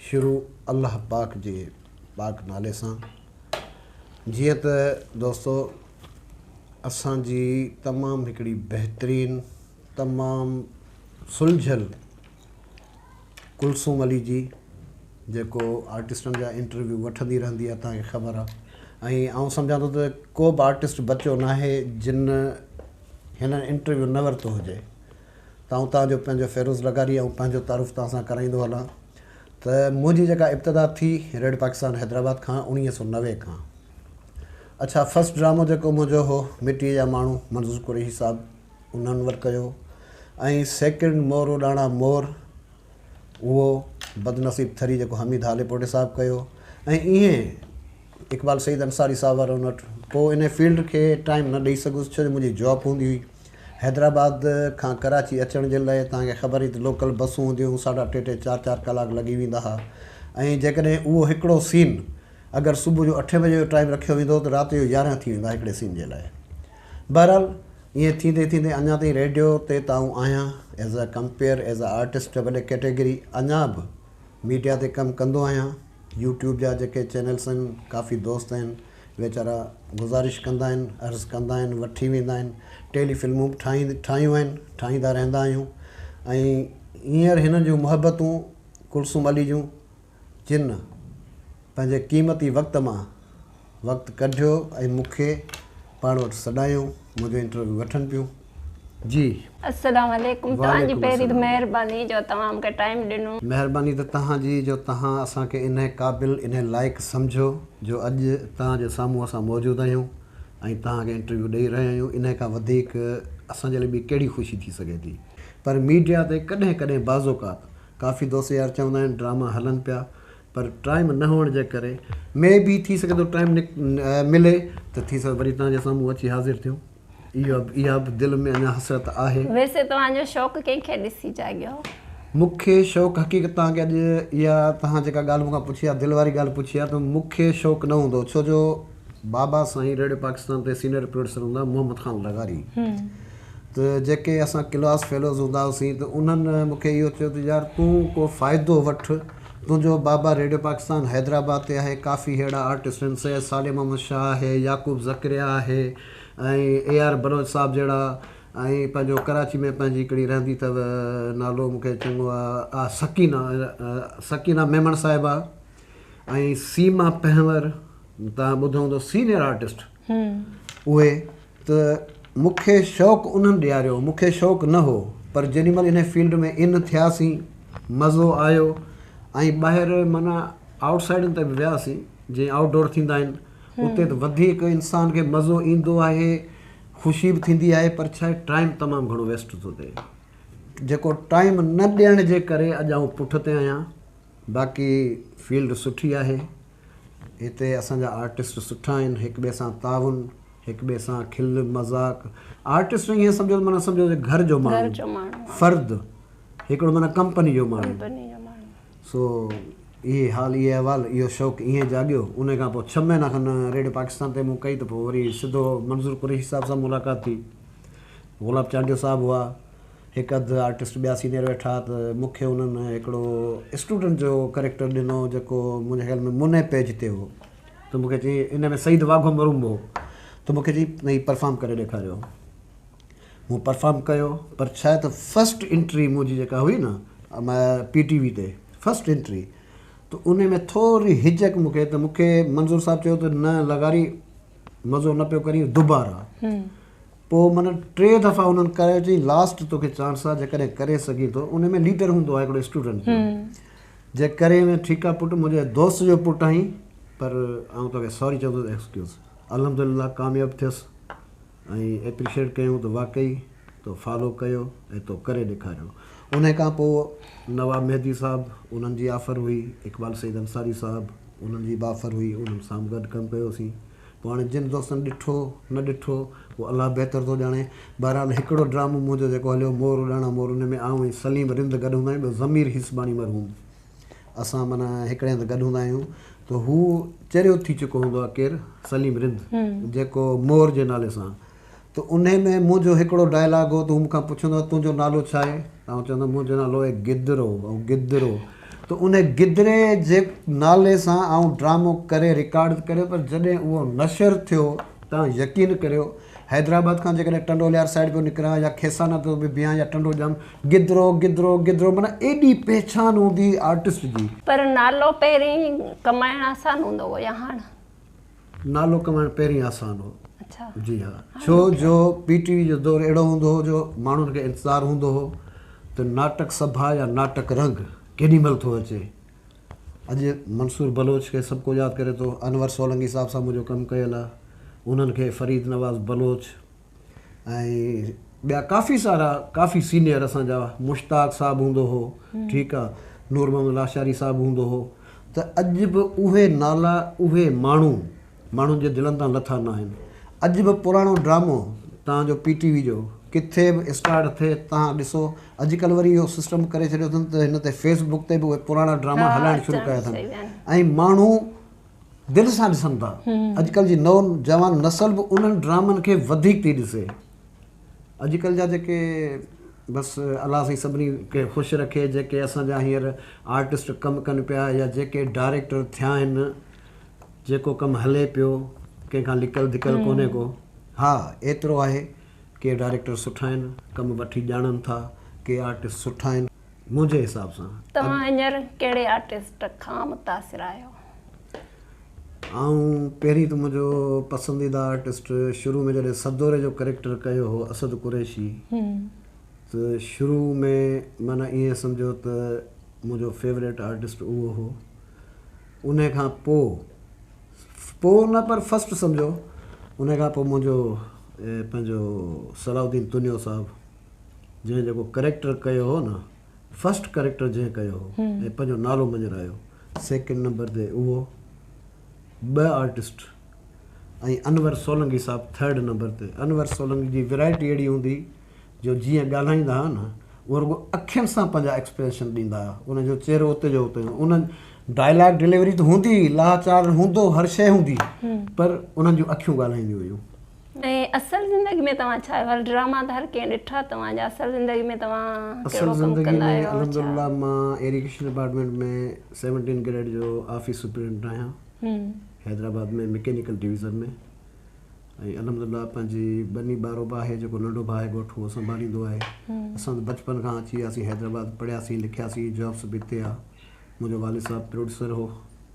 شروع الله پاڪ جي پاڪ نالي سان جيئن ته دوستو اسان جي تمام هڪڙي بهترين تمام سلجهيل ڪلثوم علي جي جيڪو آرٽسٽن جا انٽرويو وٺندي رهندي آهي تهان کي خبر آهي ۽ آئون سمجهان ٿو ته ڪو به آرٽسٽ بچو ناهي جن هن انٽرويو نه ورتو هجي ته آئون توهان جو پنهنجو فيروز لغاري ۽ پنهنجو تعارف توهان سان ڪرائيندو هلان ته منهنجي جيڪا ابتدا ٿي ريڊيو پاڪستان حيدرآباد کان اوڻيهه سؤ نوي کان اڇا فرسٽ ڊرامو جيڪو منهنجو هو مٽيء جا ماڻهو منظور قريشي صاحب انهن ور ڪيو ۽ سيڪنڊ مورو ڏاڻا مور اهو بدنصيب ٿري جيڪو حميد هاليپوٽي صاحب ڪيو ۽ ايئن اقبال سيد انصاري صاحب وارن وٽ پوء ان فيلڊ کي ٽائم نه ڏيئي سگهيس ڇو جو منهنجي جاب هوندي هئي حيدرآباد کان ڪراچي اچڻ جي لاء توهان کي خبر هئي ته لوڪل بسون هونديون هيون ساڍا ٽي ٽي چار چار ڪلاڪ لڳي ويندا ها ۽ جيڪڏهن اهو هڪڙو سين اگر صبح جو اٺين بجي جو ٽائيم رکيو ويندو هو ته رات جو يارهن ٿي ويندا ها هڪڙي سين جي لاء بهرحال ائين ٿيندي ٿيندي اڃا تائين ريڊيو تي ته آئون آهيان as a compere as a artist ڀلي ڪيٽيگري اڃا به ميڊيا تي ڪم ڪندو آهيان يوٽيوب جا جيڪي چينلس آهن ڪافي دوست آهن ويچارا گذارش ڪندا آهن عرض ڪندا آهن وٺي ويندا آهن ٽيلي فلمون به ٺاهي ٺاهيون آهن ٺاهيندا رهندا آهيون ۽ هينئر هنن جون محبتون ڪلثوم علي جون جن پنهنجي قيمتي وقت مان وقت ڪڍيو ۽ مون کي پاڻ وٽ سڏايو منهنجو انٽرويو وٺن پيون جي. السلام عليڪم توهان جي پهرين ته مهرباني جو توهان مون کي ٽائيم ڏنو. مهرباني ته توهان جي جو توهان اسان کي انهي قابل انهي لائق سمجهيو جو اڄ توهان جي سامهون اسان موجود آهيون ۽ توهان کي انٽرويو ڏئي رهيا آهيون انهي کان وڌيڪ اسان جي لاء ٻي ڪهڙي خوشي ٿي سگهي ٿي پر ميڊيا تي ڪڏهن ڪڏهن بعض اوقات ڪافي دوست يار چوندا آهن ڊراما هلن پيا پر ٽائيم نه هئڻ جي ڪري مي بي ٿي سگهي ٿو ٽائيم ملي ته ٿي سگهي وري توهان جي سامهون اچي حاضر ٿيون اها به دل ۾ اڃا حسرت آهي. ويسي توهان جو شوق ڪنهن کي ڏسي جاڳيو؟ مون کي شوق حقيقت توهان کي اڄ اها توهان جيڪا ڳالهه مون کان پڇي آهي دل واري ڳالهه پڇي آهي ته مون کي شوق نه هوندو ڇو جو بابا سائين ريڊيو پاڪستان تي سينئر پروڊيوسر هوندا هئا محمد خان لغاري ته جيڪي اسان ڪلاس فيلوز هوندا هئاسين ته انهن مون کي اهو چيو ته يار تون ڪو فائدو وٺ تنهنجو بابا ريڊيو پاڪستان حيدرآباد تي آهي ڪافي ههڙا آرٽسٽ آهن سيد صالح محمد شاهه آهي يعقوب ذڪريا آهي ۽ اي آر بلوچ صاحب جهڙا ۽ پنهنجو ڪراچي ۾ پنهنجي هڪڙي رهندي اٿو نالو مون کي چڱو آ سڪينه سڪينه ميمڻ صاحبه ۽ سيما پنهور تان ٻڌو هوندو سينيئر آرٽسٽ اهي ته مون کي شوق انهن ڏياريو، مون کي شوق نه هو، پر جيڏي مهل انهي فيلڊ ۾ ان ٿياسين، مزو آيو ۽ ٻاهر معنيٰ آئوٽ سائيڊن تي به وياسين، جيئن آئوٽ ڊور ٿيندا آهن، اتي ته وڌيڪ انسان کي مزو ايندو آهي، خوشي به ٿيندي آهي، پر ڇا آهي ٽائيم تمام گهڻو ويسٽ ٿو ٿئي، جيڪو ٽائيم نه ڏيڻ جي ڪري اڄ آئون پٺتي آهيان، باقي فيلڊ سٺي آهي هتي اسان جا آرٽسٽ سٺا آهن هڪ ٻئي سان تعاون هڪ ٻئي سان کل مذاق آرٽسٽ ائين سمجهو معنيٰ سمجهو ته گهر جو ماڻهو فرد هڪڙو معنيٰ ڪمپني جو ماڻهو سو اهي حال اهي احوال اهو شوق ائين جاڳيو ان کان پوء ڇهه مهينا کن ريڊيو پاڪستان تي مون ڪئي ته پوء وري سڌو منظور قريشي صاحب سان ملاقات ٿي گلاب چانڊيو صاحب هئا هڪ اڌ آرٽسٽ ٻيا سينيئر ويٺا ته مون کي انهن هڪڙو اسٽوڊنٽ جو ڪريڪٽر ڏنو جيڪو منهنجي خيال ۾ منهي پيج تي هو ته مون کي چيائين ان ۾ سعيد واگهو مرحوم هو ته مون کي چيائين هي پرفارم ڪري ڏيکاريو مون پرفارم ڪيو پر ڇا آهي ته فرسٽ انٽري منهنجي جيڪا هئي نه پي ٽي وي تي فرسٽ انٽري ته ان ۾ ٿوري هجڪ مون کي ته مون کي منظور صاحب چيو ته نه لغاري مزو نه پيو ڪرين دوبارا پوء معنيٰ ٽي دفعا انهن ڪرايو چيائين لاسٽ توکي چانس آهي جيڪڏهن ڪري سگهين ٿو ان ۾ ليڊر هوندو آهي هڪڙو اسٽوڊنٽ جو جي ڪري وئين ٺيڪ آهي پٽ منهنجي دوست جو پٽ آهين پر آئون توکي سوري چوندو ايڪسڪيوز الحمدلله ڪامياب ٿيس ۽ ايپريشيٽ ڪيون ته واقعي تو فالو ڪيو ۽ تو ڪري ڏيکاريو ان کان پوء نواب مهدي صاحب انهن جي آفر هئي اقبال سيد انصاري صاحب انهن جي به آفر هئي انهن سان به گڏ ڪم ڪيوسين پوء هاڻي جن دوستن ڏٺو نه ڏٺو اهو الله بهتر ٿو ڄاڻي. بهرحال هڪڙو ڊرامو منهنجو جيڪو هليو مور اڏاڻا مور ان ۾ آئون ۽ سليم رند گڏ هوندا آهيون ٻيو ضمير هيسباڻي مرحوم اسان معنيٰ هڪڙي هنڌ گڏ هوندا آهيون ته هو چريو ٿي چڪو هوندو آهي ڪير سليم رند جيڪو مور جي نالي سان ته انهي ۾ منهنجو هڪڙو ڊائلاگ هو ته هو مون کان پڇندو هو تنهنجو نالو ڇا آهي؟ ته آئون چوندو هوم منهنجو نالو آهي گدرو ۽ گدرو ته انهي گدري جي نالي سان آئون ڊرامو ڪري رڪارڊ ته ڪريو پر جڏهن اهو نشر ٿيو توهان يقين ڪريو حيدرآباد کان جيڪڏهن ٽنڊوليار سائيڊ پيو نڪران يا کيسانا پيو به بيهان يا ٽنڊو ڄام گدرو گدرو گدرو معنيٰ ايڏي پهچان هوندي هئي آرٽسٽ جي. پر نالو پهرين ڪمائڻ آسان هوندو هو يا هاڻ؟ نالو ڪمائڻ پهرين آسان هو. جي ها. ڇو جو پي ٽي وي جو دور اهڙو هوندو هو جو ماڻهن کي انتظار هوندو هو ته ناٽڪ سڀا يا ناٽڪ رنگ ڪيڏي مهل ٿو اچي. اڄ منصور بلوچ کي سڀڪو ياد ڪري ٿو، انور سولنگي صاحب سان منهنجو ڪم ڪيل آهي، انهن کي فريد نواز بلوچ، ۽ ٻيا ڪافي سارا ڪافي سينيئر اسان جا مشتاق صاحب هوندو هو ٺيڪ آ نور محمد لاشاري صاحب هوندو هو ته اڄ به اهي نالا اهي ماڻهو ماڻهن جي دلن تان لٿا نه آهن اڄ به پراڻو ڊرامو تان جو پي ٽي وي جو ڪٿي به اسٽارٽ ٿئي تان ڏسو اڄ ڪل وري اهو سسٽم ڪري ڇڏيو اٿن ته هن تي فيس بڪ تي به اهي پراڻا ڊراما هلائڻ شروع ڪيا اٿن ۽ ماڻهو دل سان ڏسن ٿا اڄڪلهه جي نو جوان نسل به انهن ڊرامن کي وڌيڪ ٿي ڏسي اڄڪلهه جا جيڪي بس الله سائين سڀني کي خوش رکي جيڪي اسان جا هينئر آرٽسٽ ڪم ڪن پيا يا جيڪي ڊائريڪٽر ٿيا آهن جيڪو ڪم هلي پيو ڪنهن کان لڪل ڌڪل ڪونهي ڪو ها ايترو آهي ڪي ڊائريڪٽر سٺا آهن ڪم وٺي ڄاڻن ٿا ڪي آرٽسٽ سٺا آهن منهنجي حساب سان توهان هينئر ڪهڙي آرٽسٽ کان متاثر آهيو؟ آئون پهرين ته منهنجو پسنديده آرٽسٽ شروع ۾ جڏهن سدوري جو ڪريڪٽر ڪيو هو اسد قريشي ته شروع ۾ معنيٰ ائين سمجهو ته منهنجو فيوريٽ آرٽسٽ اهو هو ان کان پوء پوء نه پر فسٽ سمجهو ان کان پوء منهنجو پنهنجو صلاح الدين تنيو صاحب جنهن جيڪو ڪريڪٽر ڪيو هو نه فرسٽ ڪريڪٽر جنهن ڪيو هو ۽ پنهنجو نالو مڃرايو سيڪنڊ نمبر تي اهو ٻه آرٽسٽ ۽ انور سولنگي صاحب ٿرڊ نمبر تي انور سولنگي جي ويرائٽي اهڙي هوندي جو جيئن ڳالهائيندا هئا نه اهو رڳو اکين سان پنهنجا ايڪسپريشن ڏيندا هئا ان جو چهرو اتي جو اتي ان ڊائلاگ ڊليوري ته هوندي لاچار هوندو هر شيء هوندي پر انهن جون اکيون ڳالهائينديون هيون ۽ اصل زندگي ۾ توهان ڇا آهيو؟ هل ڊراما ته هر ڪنهن ڏٺا توهان جا اصل زندگي ۾ توهان ڪهڙو ڪم ڪندا آهيو ۽ ڇا؟ اصل زندگي ۾ الحمدلله مان ايريگيشن ڊپارٽمينٽ ۾ سيونٽين گريڊ جو آفيس سپريڊنٽ آهيان حيدرآباد ۾ مڪينيڪل ڊويزن ۾ ۽ الحمدلله پنهنجي ٻني ٻارو به آهي جيڪو ننڍو ڀاء آهي ڳوٺ اهو سنڀاليندو آهي اسان ته بچپن کان اچي وياسين حيدرآباد پڙهياسين لکياسين جابس به اتي آ منهنجو والد صاحب پروڊيوسر هو.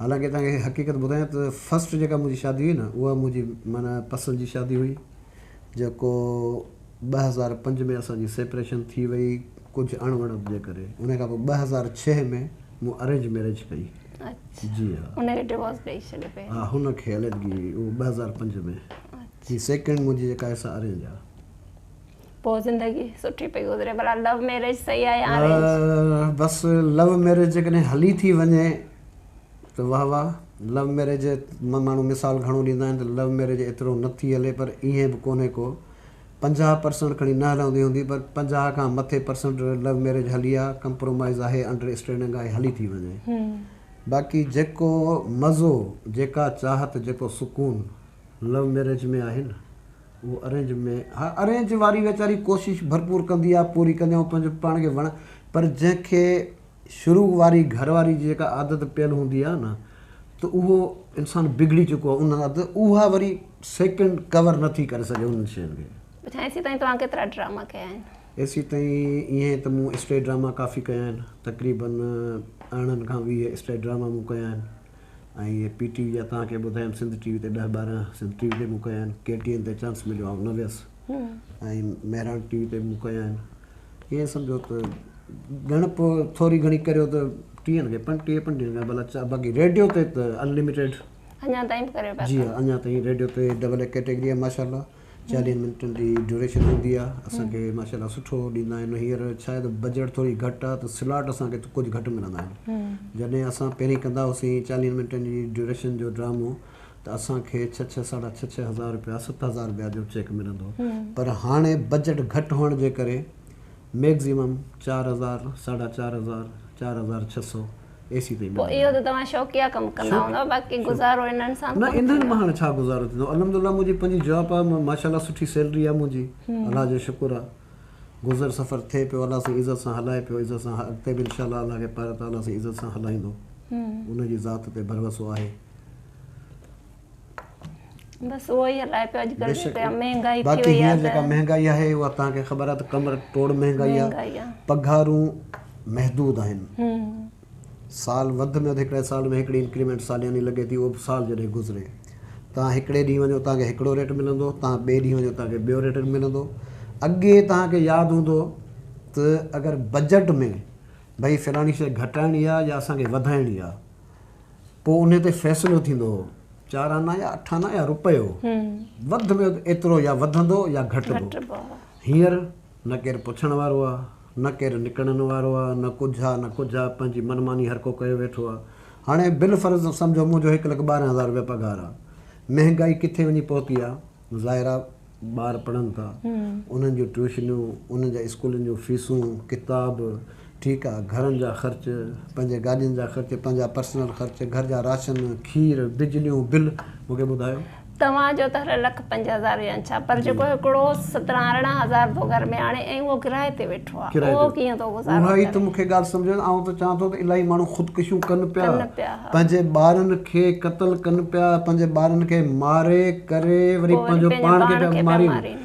حالانڪه توهان کي حقيقت ٻڌايان ته فرسٽ جيڪا منهنجي شادي هئي نه اها منهنجي معنيٰ پسند جي شادي هئي جيڪو ٻه هزار پنج ۾ اسان جي سيپريشن ٿي وئي ڪجهه اڻ وڻت جي ڪري ان کان پوء ٻه هزار ڇهه ۾ مون ارينج ميريج ڪئي اڇا جي ها ان کي ڊوورس ڏئي ڇڏيو پهرين ها هن کي عليحدگي اهو ٻه هزار پنج ۾ هي سيڪنڊ منهنجي جيڪا آهي سا ارينج آهي پوء زندگي سٺي پئي گذري ڀلا لو ميريج صحيح آهي يا ارينج بس لو ميريج جيڪڏهن هلي ٿي وڃي ته واه واه لو ميريج ماڻهو مثال گهڻو ڏيندا آهن ته لو ميريج ايترو نه ٿي هلي پر ايئن به ڪونهي ڪو پنجاهه پرسنٽ کڻي نه هلندي هوندي پر پنجاهه کان مٿي پرسنٽ لو ميريج هلي آ ڪمپرومائيز آهي انڊر اسٽينڊنگ آهي هلي ٿي وڃي باقي جيڪو مزو جيڪا چاهت جيڪو سڪون لو ميريج ۾ آهي نه اهو ارينج ۾ ها ارينج واري ويچاري ڪوشش ڀرپور ڪندي آ پوري ڪندي آ پنهنجو پاڻ کي وڻ پر جنهن کي شروع واري گهر واري جي جيڪا عادت پيل هوندي آهي نه ته اهو انسان بگڙي چڪو آهي ان عادت اها وري سيڪنڊ ڪور نه ٿي ڪري سگهي انهن شين کي. پڇان ايسي تائين توهان ڪيترا ڊراما ڪيا آهن؟ ايسي تائين ائين ته مون اسٽيج ڊراما ڪافي ڪيا آهن تقريبن ارڙهن کان ويهه اسٽيج ڊراما مون ڪيا آهن ۽ پي ٽي وي جا توهان کي ٻڌايم سنڌ ٽي وي تي ڏهه ٻارهن سنڌ ٽي وي تي مون ڪيا آهن ڪي ٽي اين تي چانس مليو آئون نه ويس ۽ مهراڻ ٽي وي تي مون ڪيا آهن ائين سمجهو ته ڳڻپ ٿوري گهڻي ڪريو ته ٽيهن کي ٽيهه پنجويهن کان ڀلا چار باقي ريڊيو تي ته انلميٽيڊ. اڃا تائين به ڪريو پيا ٿا. جي ها اڃا تائين ريڊيو تي ڊبل اي ڪيٽيگري آهي ماشاء الله چاليهن منٽن جي ڊيوريشن هوندي آهي اسان کي ماشاء الله سٺو ڏيندا آهن هينئر ڇا آهي ته بجيٽ ٿوري گهٽ آهي ته سلاٽ اسان کي ڪجهه گهٽ ملندا آهن جڏهن اسان پهرين ڪندا هئاسين چاليهن منٽن جي ڊيوريشن جو ڊرامو ته اسان کي ڇهه ڇهه ساڍا ڇهه ڇهه هزار رپيا ست هزار رپيا جو چيڪ ملندو پر هاڻي بجيٽ گهٽ هئڻ جي ڪري ميڪزيمم چار هزار ساڍا چار هزار چار هزار ڇهه سئو اي سي تائين ملندو. اهو ته توهان شوقيا ڪم ڪندا هوندا باقي گذارو انهن سان ڪونه ٿيندو. نه انهن مان هاڻي ڇا گذارو ٿيندو الحمدلله منهنجي پنهنجي جاب آ ماشاءالله سٺي سيلري آ منهنجي الله جو شڪر آ گذر سفر ٿئي پيو الله سائين عزت سان هلائي پيو عزت سان اڳتي به انشاءالله الله کي پاراتعاليٰ سائين عزت سان هلائيندو ان جي ذات تي ڀروسو آهي. بس اهو ئي هلائي پيو اڄ ڪلهه جي ٽيم مهنگائي ٿي وئي آهي باقي جيڪا مهنگائي آهي اها تهان کي خبر آهي ته ڪمر ٽوڙ مهنگائي آهي پگهارون محدود آهن سال وڌ ۾ وڌ هڪڙي سال ۾ هڪڙي انڪريمينٽ سالياني لڳي ٿي اهو به سال جڏهن گذري تهان هڪڙي ڏينهن وڃو تهان کي هڪڙو ريٽ ملندو تهان ٻئي ڏينهن وڃو تهان کي ٻيو ريٽ ملندو اڳي تهان کي ياد هوندو ته اگر بجيٽ ۾ ڀئي فلاني شيء گهٽائڻي آهي يا اسان کي وڌائڻي آهي پوء انهي تي فيصلو ٿيندو هو چار آنا يا اٺ آنا يا روپيو وڌ ۾ وڌ ايترو يا وڌندو يا گهٽبو هينئر نه ڪير پڇڻ وارو آ نه ڪير نڪڙڻ وارو آ نه ڪجهه آ نه ڪجهه آ پنهنجي من ماني هر ڪو ڪيو ويٺو آ هاڻي بالفرض سمجهو منهنجو هڪ لک ٻارهن هزار روپيا پگهار آ مهنگائي ڪٿي وڃي پهتي آ ظاهر آ ٻار پڙهن ٿا انهن جون ٽيوشنون انهن جا اسڪولن جون فيسون ڪتاب ٺيڪ آ گهرن جا خرچ پنهنجي گاڏين جا خرچ پنهنجا پرسنل خرچ گهر جا راشن کير بجليون بل مونکي ٻڌايو توهان جو ته هر لک پنج هزار هجن ڇا پر جيڪو هڪڙو سترهن ارڙهن هزار جو گهر ميهاڻي ۽ اهو ڪرايي تي ويٺو ڏٺو آ. ڪرائي ڏيو. اها ئي ته مون کي ڳالهه سمجهڻ آئون ته چوان ٿو ته الاهي ماڻهو خودڪشيون ڪن پيا پنهنجي ٻارن کي قتل ڪن پيا پنهنجي ٻارن کي ماري ڪري وري پنهنجو پاڻ کي پيا مارين.